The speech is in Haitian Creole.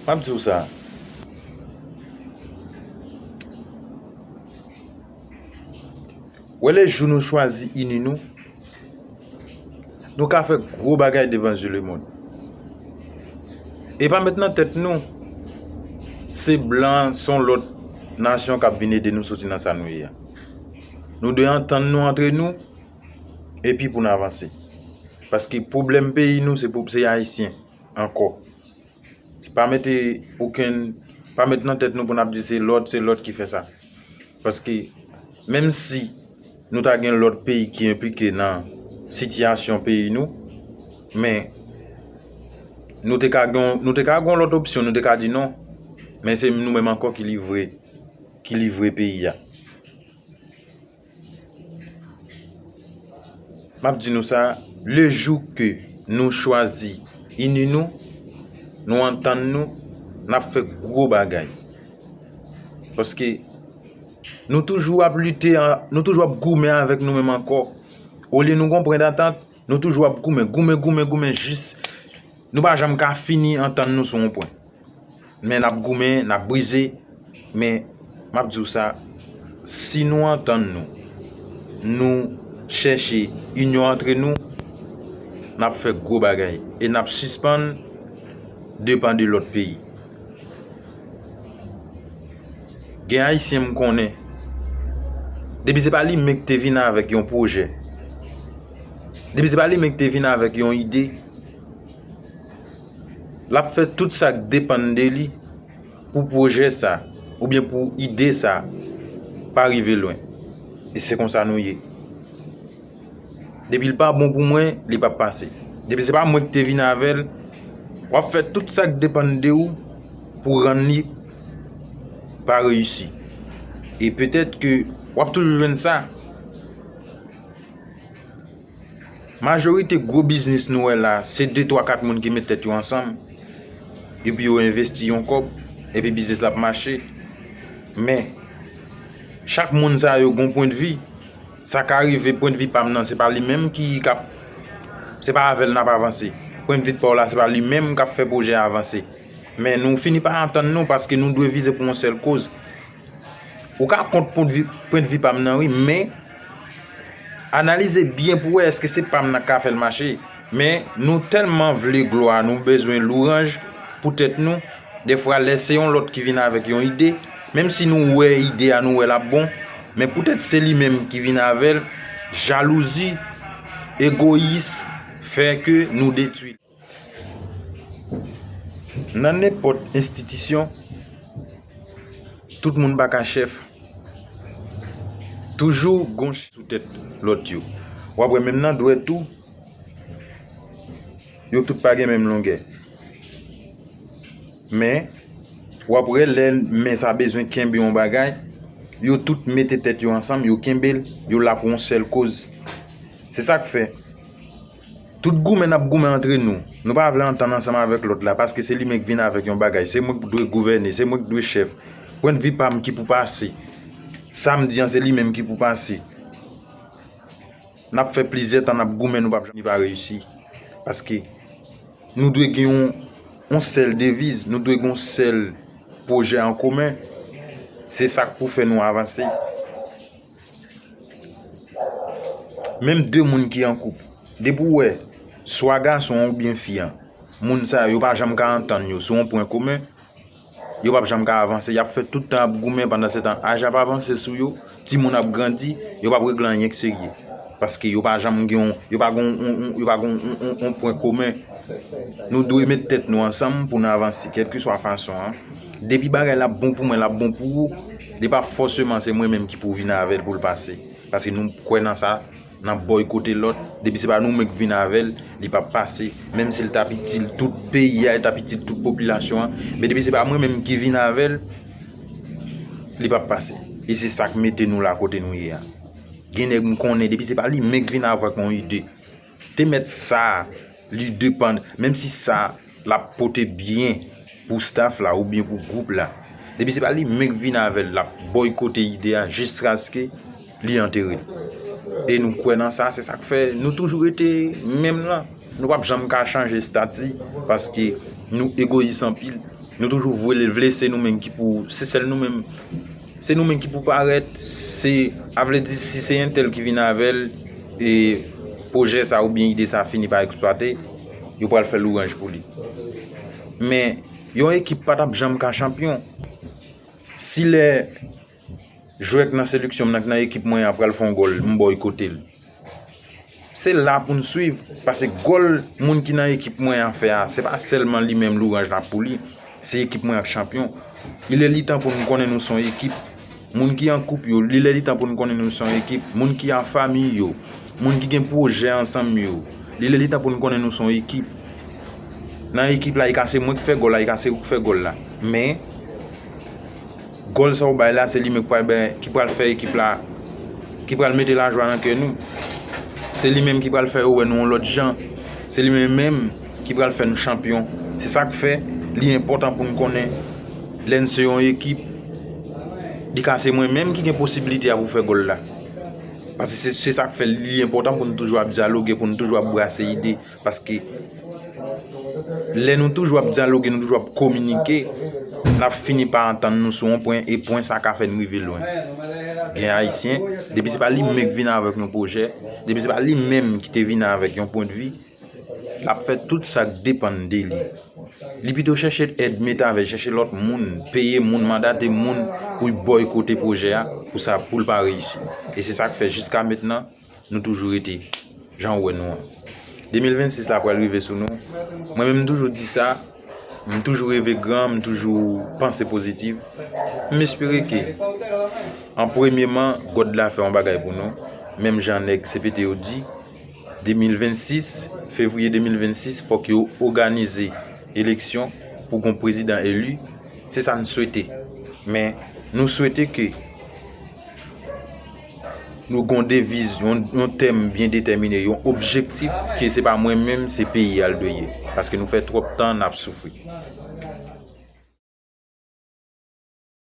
Map diw sa Wè le jou nou chwazi ini nou Nou ka fè gwo bagay devan zye lemond E pa met nan tèt nou Se blan son lòt Nasyon kap vin ede nou soti nan sa nou ye a Nou dwe antann nou antre nou Epi poun avanse Paske pwoblèm peyi nou se ayisyen Ankò pa mete okenn, pa met nan tèt nou pou n ap di se lòt, se lòt ki fè sa. Paske, menm si nou ta gen lòt peyi ki enplike nan sitiyasyon peyi nou, men, nou te ka gen, nou te ka gen yon lòt opsyon, nou te ka di non, men se nou menm ankò ki livre, ki livre peyi a. M ap di nou sa, le jou ke nou chwazi ini nou, nou antann nou, n ap fè gwo bagay. Paske nou toujou ap lite, nou toujou ap goumen avèk nou menm ankò. Olye nou gon pwen dantant, nou toujou ap goumen, goumen, goumen, goumen jis. Nou pa janm ka fini antann nou sou yon pwen. Men n ap goumen, n ap brize, men m ap di w sa, si nou antann nou, nou chèche inyon antre nou, n ap fè gwo bagay e n ap sispann depann de lòt peyi. Gen Ayisyen m konnen, depi se pa li menm ki te vin avèk yon pwojè, depi se pa li menm ki te vin avèk yon ide, l ap fè tout sa k depann de li pou pwojè sa oubyen pou ide sa pa rive lwen. E se konsa nou ye. Depi l pa bon pou mwen, li p ap pase. Depi se pa mwen ki te vin avè l, w ap fè tout sa k depann de ou pou rann li pa reyisi. E petèt ke w ap toujou jwenn sa. Majorite gwo biznis nou wè la, se 2, 3, 4 moun ki met tèt yo ansanm, epi yo envesti yon kòb, epi biznis la ap mache. Men, chak moun sa yo gen yon pwendvi. Sa ka rive pwendvi pa m nan, se pa li menm ki k ap, se pa avè l n ap avanse. Pwendvi pa w la, se pa li menm k ap fè pwojè a avanse. Men nou fini pa antann nou, paske nou dwe vize pou yon sèl koz. Ou ka kont pwendvi pam nan wi men Analize byen pou wè eske se pam nan ka fèl mache Men nou tèlman vle glwa nou bezwen louranj pou tèt nou Defwa lè se yon lòt ki vin avèk yon ide Menm si nou wè ide a nou wè lap bon Men poutèt se li menm ki vin avèl Jalouzi Egoyis Fè ke nou detwil. Nan nenpòt enstitisyon, tout moun pa ka chèf. Toujou gon chèf sou tèt lòt yo. W ap wè menm nan dwèt tou, yo tout pa gen menm longè. Men, w ap wè lè men sa bezwen kenbe yon bagay, yo tout mete tèt yo ansanm, yo kenbe l, yo la pou yon sèl koz. Se sa k fè. Tout goumen nap goumen antre nou. Nou pa vle antann ansanm avèk lòt la paske se limenm k vin avèk yon bagay. Se mwen k dwe gouvène, se mwen k dwe chèf. Pwendvi pa m ki pou pase. Sa m di an se limenm ki pou pase. Nap fè plizyè tan nap goumen nou pap janm rive a reyisi. Paske nou dwe gen yon sèl deviz, nou dwe gen yon sèl pwojè an komen. Se sa k pou fè nou avanse. Menm 2 moun ki an koup, depi w wè, swa gason an oubyen fi an, moun sa yo, yo pa janm ka antann yo sou yon pwen komen, yo pap janm ka avanse, yap fè tout tan ap goumen, pandan se tan aj ap avanse sou yo, timoun ap grandi, yo pap regle anyen k serye. Paske yo pa janm gen yon, yo pa gen yon, yo pa gen yon pwen komen. Nou dwe met tèt nou ansanm pou nou avanse, kèlkeswa fason an. Depi bagay la bon pou mwen lap bon pou ou li pa fòseman se mwen menm ki pou vin avèl poul pase paske nou kwè nan sa nan bòykote lòt depi se pa nou menm k vin avèl li pap pase menm sil tap itil tout peyi a tap itil tout popilasyon an men depi se pa mwen menm ki vin avèl li pap pase e se sak mete nou la kote nou ye a gen nèg m konnen depi se pa li menm k vin avèk yon ide. Te met sa li depann menm si sa lap pote byen pou staff la oubyen pou group la depi se pa li menm ki vin avèl lap boykote ide a jiskaske li antere e nou kwè nan sa se sak fè nou toujou rete menm lan nou pap janm ka chanje stati paske nou egoyis anpil nou toujou vle se nou menm ki pou se sèl nou menm. Se nou menm ki pou parèt, se a vle di si se entèl ki vin avè l e pwojè sa oubyen ide sa fini pa eksplwate, yo pral fè lwanj pou li. Men, yon ekip pa t ap janm ka chanpyon. Si lè jwè k nan seleksyon m nan, k nan ekip mwen an pral fè yon gòl, m bòykote l. Se la pou nou swiv, pase gòl moun ki nan ekip mwen an fè a, se pa sèlman li menm louranj la pou li, se ekip mwen ap chanpyon. Li lè li tan pou nou konnen nou son ekip, moun ki an koup yo, li lè li tan pou nou konnen nou son ekip, moun ki an fami yo, moun ki gen pwojè ansanm yo, li lè li tan pou nou konnen nou son ekip. Nan ekip la, e ka se mwen ki fè gòl la, e ka se ou ki fè gòl la, men. Gòl sa ou bay la se li menm ki pral bay ki pral fè ekip la ki pral mete lajwa nan kè nou se li menm ki pral fè yo wè nou yon lòt jan se li menm menm ki pral fè nou chanpyon se sak fè li enpòtan pou nou konnen lè nou se yon ekip li ka se mwen menm ki gen posibilite a pou fè gòl la paske se sak fè li enpòtan pou nou toujou ap dyaloge pou nou toujou ap brase ide Paske lè nou toujou ap dyaloge, nou toujou ap kominike, n ap fini pa antann nou sou yon pwen, e pwen sa ka fè n rive lwen. Gen Ayisyen, depi se pa li menm ki vin avèk yon pwojè, depi se pa li menm ki te vin avèk yon pwendvi, l ap fè tout sa k depann de li. Li pito chèche èd metave, chèche lòt moun, peye moun, mandate moun pou l bòykote pwojè a pou sa pou l pa reyisi. E se sa k fè jiska mentnan. Nou toujou rete jan ou wè nou an. 2026 la pral rive sou nou. Mwen menm m toujou di sa, m toujou reve gran, m toujou panse pozitif. M espere ke an premyeman God la fè yon bagay pou nou. Menm jan nèg CPT yo di 2026, fevriye 2026 fòk yo oganize eleksyon pou gon prezidan eli. Se sa n swete. Men nou swete ke. Nou gon deviz, yon tèm byen detèmine, yon objektif ke se pa mwen menm, se peyi a l dwe ye. Paske nou fè twòp tan n ap soufri.